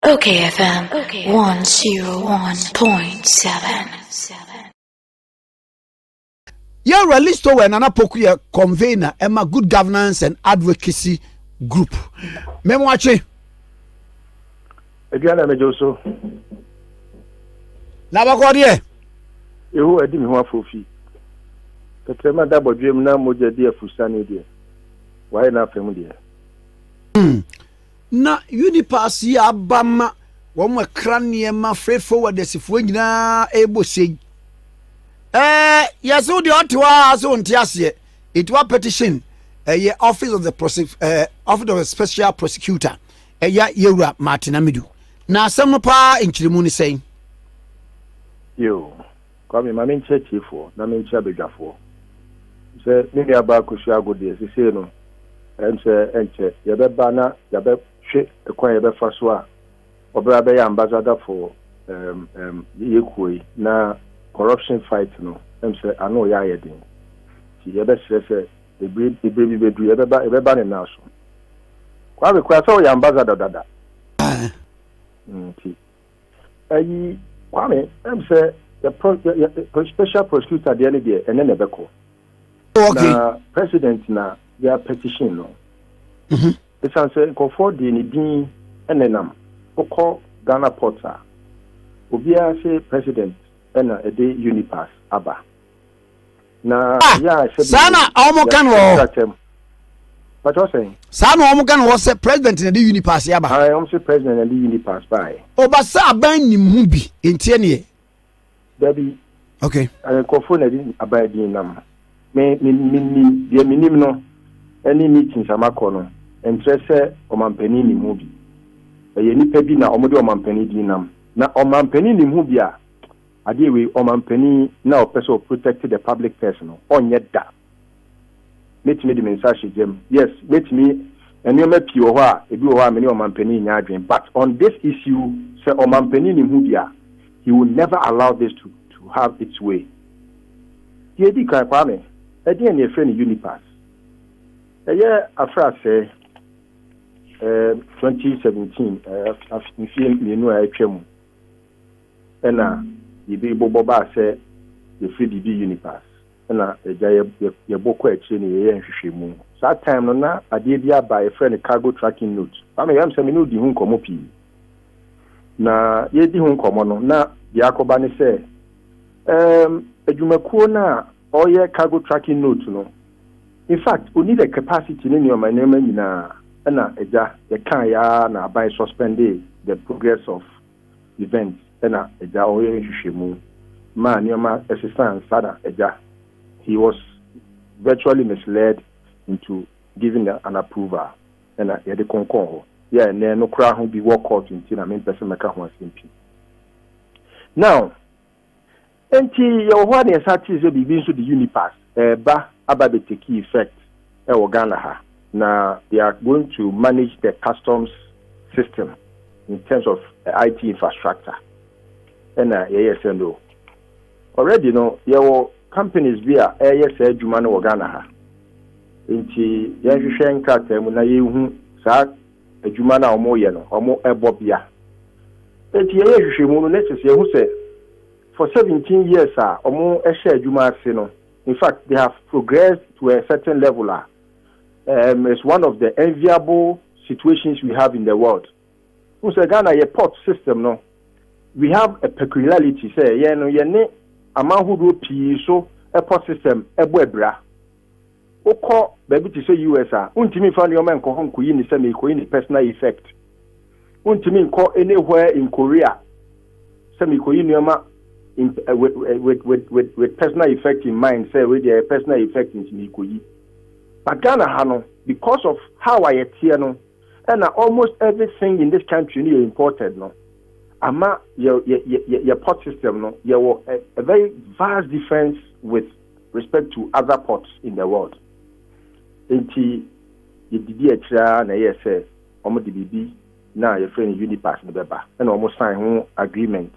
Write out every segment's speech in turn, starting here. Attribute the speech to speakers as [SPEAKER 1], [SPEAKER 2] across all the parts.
[SPEAKER 1] Okay,
[SPEAKER 2] FM 101.7. yɛwura listo wɔ nana poku yɛ convener ɛma good governance and advocacy group mɛmo akye.
[SPEAKER 3] aduane na mɛgye so.
[SPEAKER 2] na bakɔ deɛ. ehu
[SPEAKER 3] adi mi ho afofi tɛtɛrɛma da bɔdwem na mogya di afusane deɛ wayɛ n'afɛm deɛ. Hmm.
[SPEAKER 2] Ná Unipass yi aba ma wɔkra nneɛma fefew adasifoɔ nyinaa rebɔ se yi. Ɛɛ, yɛ se wo deɛ ɔte hɔ a se wonte aseɛ. It wa petition ɛyɛ Office of the Prosec ɛɛ Office of the Special Prosecutor ɛyɛ Yɛwura Martin Amidu. Na asɛm no paa nkyerɛmu ne sɛn?
[SPEAKER 3] Yo, Kwame, ma menkyerɛ atiefoɔ na menkyerɛ abadwafoɔ sɛ me nuabaa Kosua Ago deɛ sesei no ɛm sɛ ɛnkyɛ yɛbɛba na yɛabɛhwe kwan a yɛbɛfa so a ɔbra bɛyɛ ambassador for ɛm ɛm yɛ kuo yi na corruption fight no ɛm sɛ ano reyɛ ayɛ den nti yɛbɛsrɛ sɛ ɛbire ɛbire bi bɛduru yɛbɛba yɛbɛba ne nan so Kwame kura sɛ ɔyɛ ambassador dada nti Ayi Kwame ɛm sɛ yɛ pro yɛ yɛ special prosecutor deɛ ne deɛ ɛnɛ na ɛbɛkɔ. Oh, okay. Na
[SPEAKER 2] president
[SPEAKER 3] na yɛ petition no. Mhm. Esan sɛ nkurɔfoɔ deɛ ne din ɛna nam wokɔ Ghana port a obiara se president ɛna ɛde unipass aba. na ah, yɛ a sɛ saa na wɔn ka
[SPEAKER 2] no wɔ pàtó
[SPEAKER 3] sɛn. saa na wɔn ka no wɔ sɛ
[SPEAKER 2] president na de unipass yaba. ayi wɔn sɛ president na
[SPEAKER 3] de unipass ba yɛ. ɔba sɛ aban
[SPEAKER 2] nim ho bi nti ɛneɛ. dabi
[SPEAKER 3] okay
[SPEAKER 2] nkurɔfoɔ na de
[SPEAKER 3] aban din nam me me me nim deɛ me nim no ɛne meetings amakɔ no nkyerɛ sɛ ɔmampanin nim ho bi ɛyɛ nipa bi na wɔn de ɔmampanin din nam na ɔmampanin nim ho bi a. Adeɛ wei ɔmanpanin na ɔpɛ sɛ ɔ protect the public purse no ɔnyɛ da mɛtumi de me nsa ahyɛ gyam yes mɛtumi nnoɔma pii wɔ hɔ a ebi wɔ hɔ a me ne ɔmanpanin nyɛ adwene but on this issue sɛ ɔmanpanin ne ho bi a he will never allow this to to have its way deɛ ɛdi kan Kwame ɛdeɛn ne ɛfrɛ no Unipass ɛyɛ afrasɛɛ ɛɛ 2017 ɛɛ mfie mmienu a atwa mu. Nna biribi bobɔ baa sɛ yɛfiri Didi Unipass na yɛgya yɛbo kɔ akyire na yɛyɛ nhwehwɛmu. Saa time no na adeɛ bi aba a yɛfrɛ no cargo tracking note. Saa no yɛm sɛ me ne wo di ho nkɔmmɔ pii. Na yɛredi ho nkɔmmɔ no na deɛ akɔba ne sɛ um adwumakuo no a ɔreyɛ cargo tracking note no in fact ɔnni the capacity ne nneɛma nneɛma nyinaa ɛna agya yɛkaeɛ ara na aban suspendee the progress of event na agya ɔyɛ nhwehwɛmu maa nneɛma sesaa ansa na agya he was virtually misled into giving an approval na yɛde ko kɔɔ hɔ yɛ ɛnɛ no koraa ho bi wɔ court nti na mempɛ sɛ mɛka ho asɛm pii now. Enti yɛwɔ hɔ ara na yɛsan tee sɛ biribi nso de Unipass reba aba abɛtake effect wɔ Ghana ha, na they are going to manage the customs system in terms of IT infrastructure. Ɛna yɛyɛɛ sɛ no, already no yɛwɔ companies bi a ɛreyɛ saa adwuma no wɔ Ghana ha, enti yɛnhwehwɛ nkrataa mu na yɛnhu saa adwuma no a wɔyɛ no, wɔbɔ bia. Enti yɛyɛ nhwehwɛmu no na kyerɛ sɛ yɛahu sɛ for seventeen years a wɔhyɛɛ adwuma ase no, in fact they have progressed to a certain level a um, is one of the enviable situations we have in the world. Wohu sɛ Ghana yɛ port system no, we have a peculiarity sɛ yɛn no yɛne aman hodoɔ pii so port system ɛbɔ abira. Wokɔ baabi te sɛ US a, wontumi mfa nneɛma nkɔ hɔ nkoyi no sɛ merekɔyi no personal effect. Wontumi nkɔ anywhere in Korea sɛ merekɔyi nneɛma with, with, with, with personal effect in mind sɛ wei deɛ personal effect nti merekɔyi. But Ghana ha no, because of how a yɛteɛ no, ɛna almost everything in this country no yɛ imported no, ama yɛ, yɛ, yɛ, yɛ pot system no, yɛwɔ a, a very vast difference with respect to other ports in the world nti yɛdidi akyire ara na ɛyɛɛ sɛ wɔn de biribi no a yɛfrɛ no Unipass no bɛba ɛna wɔn sign ho agreement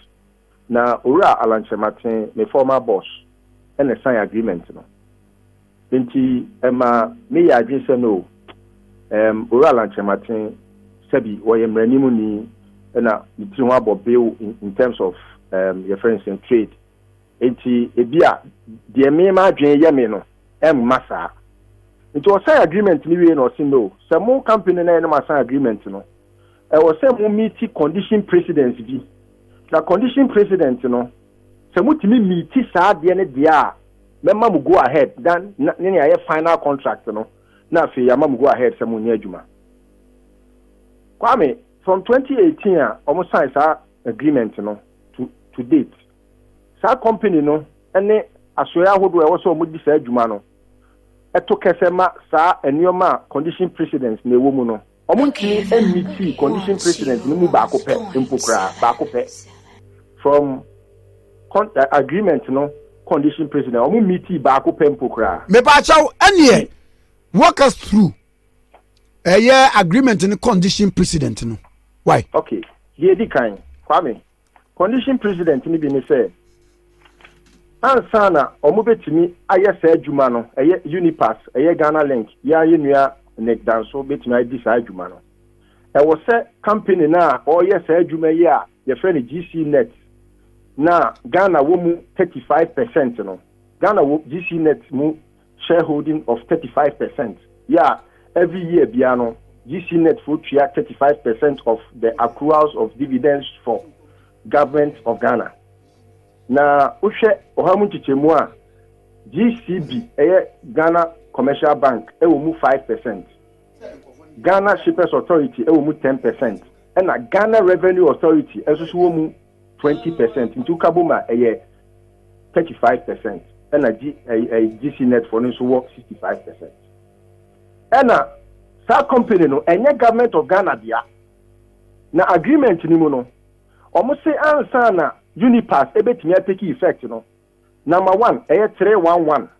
[SPEAKER 3] na Owura Allan Kyerematen me former boss ɛna ɛsign agreement no nti ɛma me yɛ adwene sɛ no ɛɛm Owura Allan Kyerematen sɛbi wɔyɛ mmaranim ni ɛna ne tiri ho abɔ bill in terms of ɛɛm yɛfrɛ no sɛ trade Enti ebia deɛ me m'adwene yɛ me no ɛmma saa. Nti ɔsan agreement no wiei na ɔse no, sɛ mo company no ayɛ na moasan agreement no, ɛwɔ sɛ mo meeti condition precedents bi. Na condition precedent no, sɛ motumi meeti saa adeɛ no deɛ a, mɛma mo go ahead na ne nea ɛyɛ final contract no, na afei yɛama mo go ahead sɛ monyɛ adwuma. Kwame, from 2018 a wɔsan saa agreement no to to date. Saa kɔmpani no ne asoɛe ahodoɔ a ɛwɔ sɛ wɔdi saa dwuma no to kɛsɛ ma saa nneɛma a condition precedent na ɛwɔ mu no. Wɔntumi mmiti condition precedent no mu baako pɛ mpo koraa, baako pɛ from con, agreement no condition precedent, wɔn mmiti baako pɛ mpo koraa. Mepaakyɛw, ɛneɛ
[SPEAKER 2] walk us through ɛyɛ agreement no condition precedent no. Why? Okay, deɛ
[SPEAKER 3] ɛdi kan, Kwame, Condition precedent no bi ne sɛ, ansa na wɔbɛtumi ayɛ saa adwuma no, ɛyɛ Unipass, ɛyɛ Ghana Link, yɛn ara yɛn nua Nick Danso bɛtumi adi saa adwuma no. Ɛwɔ sɛ company no a ɔreyɛ saa adwuma yi a yɛfrɛ no GC Net na Ghana wɔ mu 35 percent no, Ghana wɔ GC Net mu shareholding of thirty five percent yɛ a, every year biara no, GCNet foɔ tua thirty five percent of the accruals of dividends for Government of Ghana. Na wohwɛ ɔha mu nkyekyɛmu a, GCB ɛyɛ Ghana Commercial Bank ɛwɔ mu five percent, Ghana Shippers Authority ɛwɔ mu ten percent, ɛna Ghana Revenue Authority nso so wɔ mu twenty percent nti woka bom a ɛyɛ thirty five percent ɛna G ɛyi ɛyi GC net fo no nso wɔ sixty five percent ɛna saa company no ɛnyɛ government of Ghana dea na agreement no mu no wɔn se ansa na Unipass ɛbɛtumi atake effect no number one ɛyɛ three one one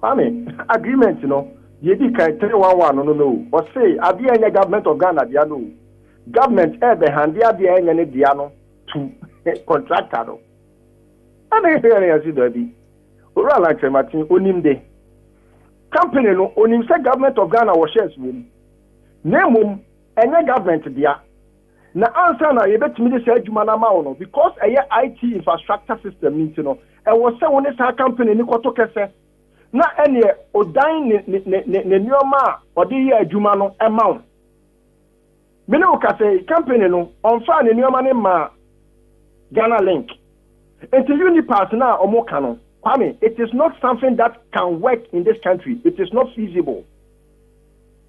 [SPEAKER 3] Kwame, agreement no deɛ edi kan three one one no no no o, ɔsee adeɛ a ɛnyɛ government of Ghana dea no o, government ɛɛbɛ hande adeɛ a ɛnyɛ ne dea no to contractor no. Ɛna yɛn yɛn se daabi, Owura Lankyerematen onim de, company no onim sɛ government of Ghana wɔ shares wɔ mu, na mmom ɛnyɛ government dea. Na ansa na yɛbɛtumi de saa adwuma no ama wo no, because ɛyɛ IT infrastructure system no nti no, ɛwɔ sɛ wo ne saa company no kɔto kɛsɛ na ɛneɛ ɔdan ne ne ne ne ne nnoɔma a ɔde yɛ adwuma no ma wo. Me ne wo kasa yi, company no ɔmfaa ne nnoɔma no mmaa Ghana Link. Nti Unipass no a wɔka no, Kwame, it is not something that can work in this country, it is not feasible.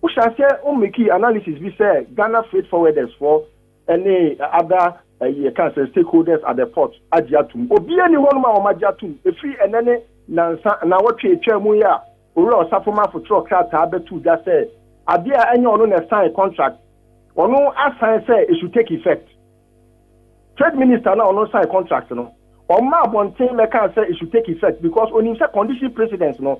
[SPEAKER 3] Wohyɛ aseɛ wo mekii analysis bi sɛ Ghana freight forwarders foɔ ne other ɛyi ɛka sɛ stakeholders at the port agye atom. Obiara ni hɔ nom a wɔn agye atom. Ɛfiri ɛnɛ ne nansa naawɔtwe ɛtwaa mu yi a Owura Ɔsafo Marfo twerɛ krataa bɛtoo dwa sɛ adeɛ a ɛnyɛ ɔno na ɛsign contract ɔno asan sɛ it should take effect. Trade Minister no a ɔno sign contract no ɔmma abɔnten mɛkaa sɛ it should take effect because onim sɛ condition precedence no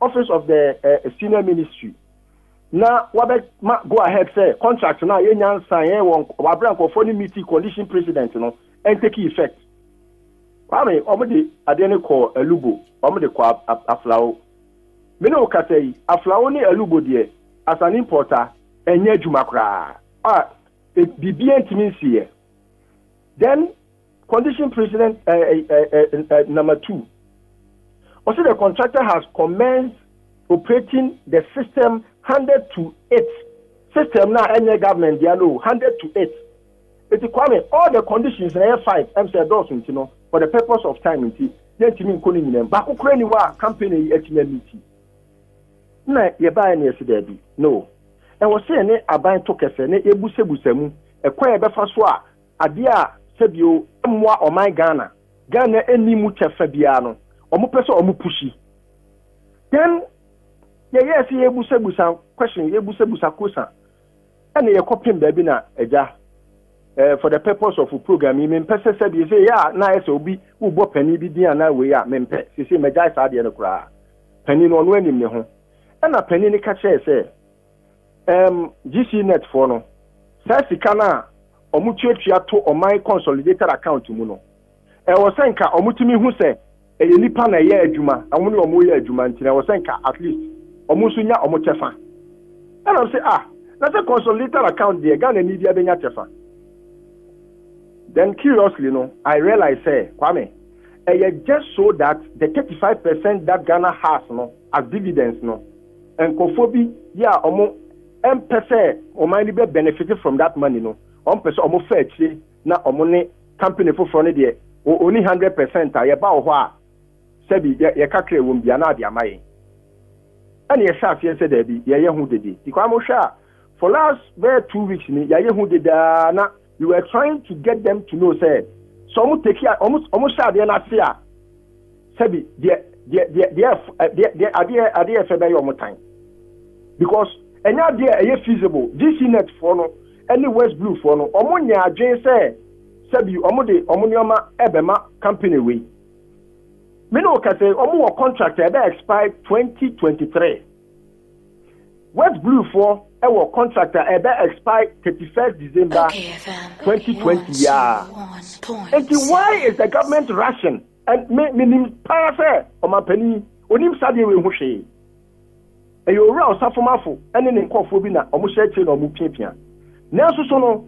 [SPEAKER 3] Office of the eh, Senior Ministry na wabɛma go ahead sɛ contract no a yɛnya nsaeɛ wɔ wabrɛ nkurɔfoɔ no meeting condition precedent no ɛntake effect kwame wɔn de adeɛ no kɔ alubo wɔn de kɔ aflawo me ne wo kasa yi aflawo ne alubo deɛ as an importer ɛnyɛ adwuma koraa a biribiara ntumi nsiiɛ then Condition precedent uh, uh, uh, number two. Also, the contractor has commenced operating the system handed to it. System now, any government, they know, handed to it. It's Kwame, all the conditions in air five, I'm saying, those, you know, for the purpose of time, you see, then to me, calling them, but who can you are campaigning at me meeting? Na yɛ baa yɛ na yɛ si dɛbi, no. Ɛwɔ sɛ yɛ ne aban to kɛse, ne ebusebusa mu, ɛkɔ yɛ bɛfa so a. Adeɛ a sɛbio ɛmmoa ɔman Ghana, Ghana ɛnni mu kyɛfa biara no, ɔmo pɛ sɛ ɔmo pushi. Then yɛyɛɛ sɛ yɛbusabusa question, yɛbusabusa kosa, ɛna yɛkɔ pem baabi na agya, eh, for the purpose of program yi, mempɛ sɛ sɛbio sɛ yɛ a na ayɛ sɛ obi wobɔ panin bi din anaa wei a, mempɛ, sese magyae saa adeɛ no koraa. Panin no ɔno anim ne ho. Ɛna panin no ka kyerɛɛ sɛ, Ɛɛm, GCNet foɔ no, saa sika no a wɔn tuatua to ɔman consolidated account mu no, ɛwɔ sɛ nka wɔn tumi hu sɛ ɛyɛ nipa na ɛyɛ adwuma, na wɔn ne wɔn reyɛ adwuma nti no ɛwɔ sɛ nka at least wɔn nso nya wɔn kyɛfa. Ɛna mse ah, na sɛ consolidated account deɛ Ghana ni bia bɛnya kyɛfa. Then curiously no, I realize sɛ Kwame, ɛyɛ just so that the 35% that Ghana has no as dividends no, Nkorɔfoɔ bi yɛ a ɔmo mpɛ sɛ ɔman no bɛ benefit from that money no, ɔmo pɛ sɛ ɔmo fa akyire na ɔmo ne company foforɔ no deɛ wɔ ɔni hundred percent a yɛ ba wɔ hɔ a sɛbi yɛ yɛ kakra ɛwɔ mu biara na ade ama yɛn ɛna yɛ hyɛ aseɛ sɛ daabi yɛ yɛ ho dede because mo hwɛ a for last bɛyɛ two weeks ni yɛ ayɛ ho dede aa na We were trying to get them to know sɛ, sɛ wɔn take a wɔn wɔn hyɛ adeɛ n'ase a, sɛbi deɛ deɛ deɛ deɛ ɛf ɛ deɛ deɛ adeɛ adeɛ ɛfɛ bɛyɛ wɔn tan because ɛnyɛ adeɛ a ɛyɛ feasible GC net foɔ no ɛne West Blue foɔ no wɔn nyɛ adwene sɛ sɛbi wɔn de wɔn nneɛma ɛbɛma company wei me ne o kasa wɔn wɔ contract a ɛbɛ expire twenty twenty three West Blue foɔ wɔ contract a ɛbɛ expire thirty first December twenty twenty yiaa enti why is the government rushing and me me nim paa sɛ ɔmanpanin onim sadeɛ wei ho hwee ɛyɛ owura ɔsafomafo ɛne ne nkɔfoɔ bi na ɔmo hyɛ akyire na ɔmo piapia nanso so no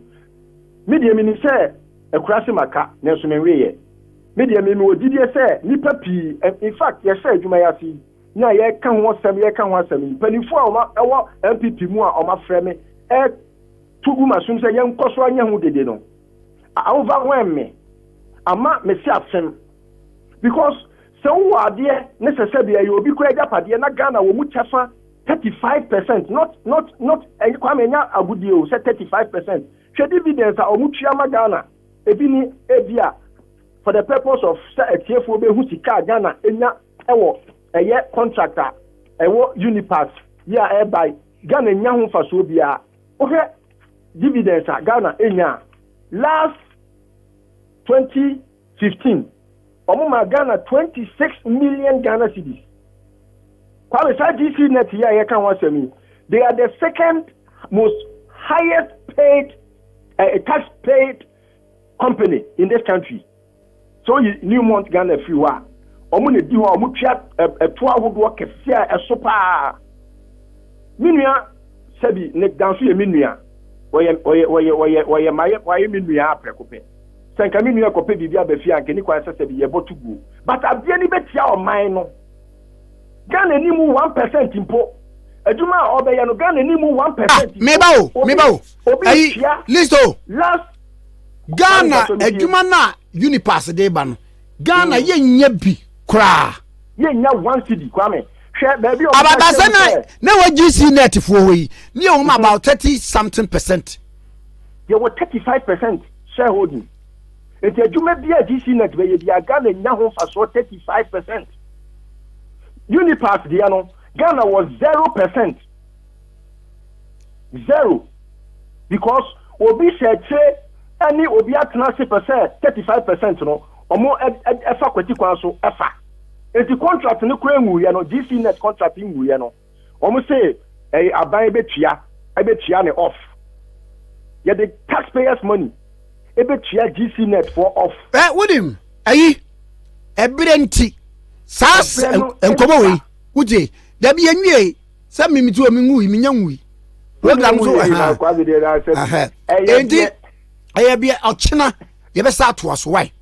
[SPEAKER 3] me deɛ menim sɛ akurase maka nanso menweeɛ me deɛ me mewɔ gyidie sɛ nipa pii in fact yɛhyɛ adwuma yi ase yi na yɛreka ho asɛm yɛreka ho asɛm mpanimfoɔ a wɔn ɛwɔ npp mu a wɔn afrɛ me ɛto gu ma som sɛ yɛnkɔ so anyɛ ho dede no overwhelm me ama me se asɛm because sɛ wowɔ adeɛ ne sɛ sɛ deɛ ɛyɛ obi kora agyapadeɛ na Ghana wɔ mu kyɛfa 35 percent not not not ɛnyɛ kwame ɛnyɛ agodie o sɛ 35 percent hwɛ dividends a wɔn tua ma Ghana ebi ni ebi a for the purpose of sɛ atiefoɔ bɛhu sika a Ghana enya ɛwɔ ɛyɛ contract a ɛwɔ unipass yi a ɛreba yi ghana nya ho mfasoɔ biara wohwɛ dividends a ghana enya a last 2015 wɔn ma ghana 26 million ghana cedis kwame saa gc net yi a yɛka ho asɛm yi they are the second most highest paid uh, tax paid company in this country. Sɛ woyi Newmont Ghana firi hɔ a, wɔn na ɛdi hɔ a wɔtua ɛtoɔ ahodoɔ kɛseɛ a ɛso pa ara. Me nua Sɛbi, Nick Dan nso yɛ me nua. Ɔyɛ, ɔyɛ, ɔyɛ, ɔyɛ, ɔyɛ, mayɛ, wayɛ me nua ara prɛko pɛ. Sɛ nka me nua rekɔpɛ biribi aba fie a, anka ɛnni kwan sɛ Sɛbi, yɛbɔto guo. But adeɛ no bɛtia ɔman no. Ghana nni mu one percent mpo. Adwuma a ɔrebɛyɛ no, Ghana nni mu one Ah, percent mpo. meba o, meba Obi, o.
[SPEAKER 2] obi Ayi, retua list o. last.
[SPEAKER 3] ghana
[SPEAKER 2] adwuma no a unipass de ba no ghana mm. yɛnyɛ bi koraa yɛnya one
[SPEAKER 3] cd kwame hwɛ baabi abadasɛ na na
[SPEAKER 2] wɔ gc net foɔ hɔ yi ne yɛwɔ mu mhm. about thirty something percent yɛwɔ
[SPEAKER 3] thirty five percent shareholding nti adwuma bi a gc net bɛyɛ bi a ghana nya ho mfasoɔ thirty five percent unipass deɛ no ghana wɔ zero percent Zero because obi hyɛ akyire ɛne obi atena ase pɛ sɛ thirty five percent no ɔmo ɛfa kwati kwan so ɛfa enti contract no kura nwuiɛ no GC net contract nwuiɛ no ɔmo se ɛyɛ aban ɛbɛtua ɛbɛtua ne off yɛde taxpayers money ɛbɛtua GC net for off. Ɛ wonim
[SPEAKER 2] ayi ɛberɛ nti saa nkɔmɔ wei wogye dabi yɛnwie sɛ mimi ti o mi nwui mi nya nwui program so ɛnti ɛyɛ bi ɔkyena yɛ bɛ sa ato aso wae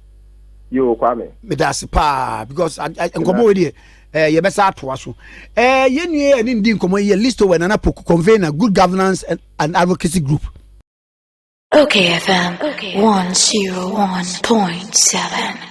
[SPEAKER 2] yoo kwame
[SPEAKER 3] meda ase paa
[SPEAKER 2] because nkɔmɔ wo deɛ ɛɛ yɛ bɛ sa ato aso ɛɛ yɛ nua yɛ ne ndi nkɔmɔ yɛ listo wɛ nana poku convener good governance and, and advocacy group.
[SPEAKER 1] Okay FM okay. 101.7